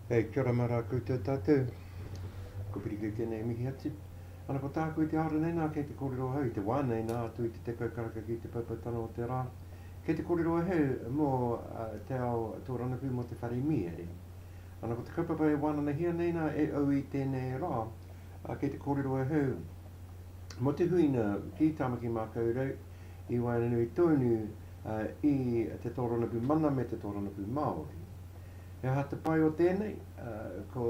Hey, kia ora mā rā koutou tātou. Ko Piri kei tēnei e mihi atu. Ana ko tāku i te aora nei nā, kei te kōrero ahau i te wā nei nā atu i te tekau karaka ki te poupoutanga o te rā. Kei te kōrero ahau mō te ao tōrangapū mō te whare mīere. Ana ko te kaupapa e wānanahia nei nā e au i tēnei rā, Kei te kōrero ahau mō te huinga ki Tāmaki Mākaurau i waenganui tonu i te tōrangapū mana me te tōrangapū Māori. He aha te pai o tēnei? Ko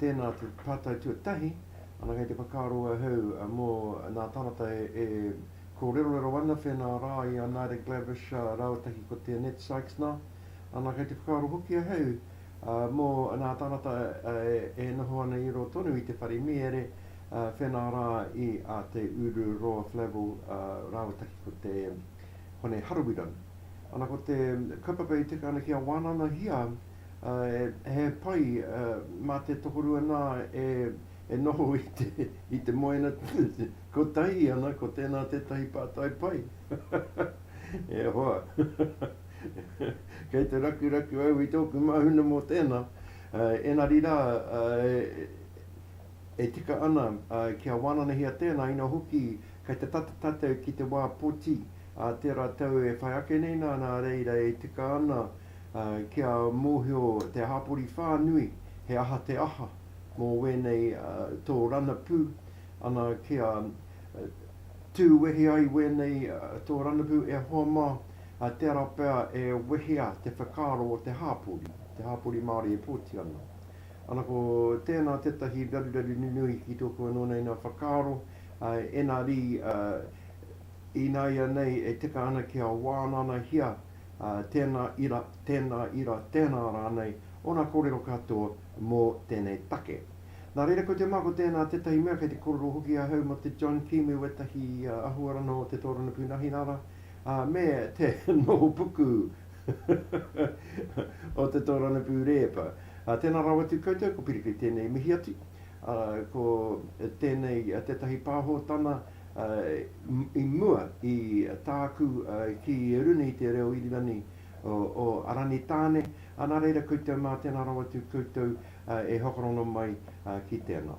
tēnā te pātai tuatahi, ana kei te whakaaro ahau mō nā tāngata e kōrerorero ana whēnā rā i a Naida Glavish rāua tahi ko Te Annette Sykes nā, ana kei te whakaaro hoki ahau Mō nā tāngata e noho ana i roa tonu i te whare mīere, whenā rā i a Te Uru, Roa Flavell rāua taki ko te Hone Harawira. Ana ko te kaupapa i tika ana kia wānanahia he pai mā te tokorua nā e noho i te moena kotahi ana ko tēnā tētahi pātai pai. E hoa! Kei te rakuraku au i tōku māhuna mō tēnā, ēnari rā, e tika ana kia wānanahia tēnā, ina hoki kei te tata tātou ki te wā poti, tērā tau e whai ake nei nā, nā reira e tika ana kia mōhio te hāpori whānui he aha te aha mō wēnei tō ranapū, ana kia tū wehe ai wēnei tō ranapū e hoa mā, Ā, tērā pea e wehea te whakaaro o te hāpori, te hāpori Māori e pōti ana. Ana ko tēnā tētahi raruraru nunui ki tōku anō nei nā whakaaro, ā, engari, ā, ināianei e tika ana kia wānanahia, ā, tēnā ira, tēnā ira, tēnā rānei, ōna kōrero katoa mō tēnei take. Nā reira, ko te mā ko tēnā tētahi mea kei te kōrero hoki ahau mō te John Kīmu, ētahi āhuaranga o te tōrangapū Nahinara, ā, me te nohopuku o te tōranapū rēpa. Ā, tēnā rawa atu koutou, ko Piripi i tēnei mihi atu. Ā, ko tēnei tētahi pāhotana i mua i tāku ki runga i te reo Irirani o Aranitāne. Ā, nā reira koutou mā, tēnā rawa atu koutou e hokorono mai ki tēnā.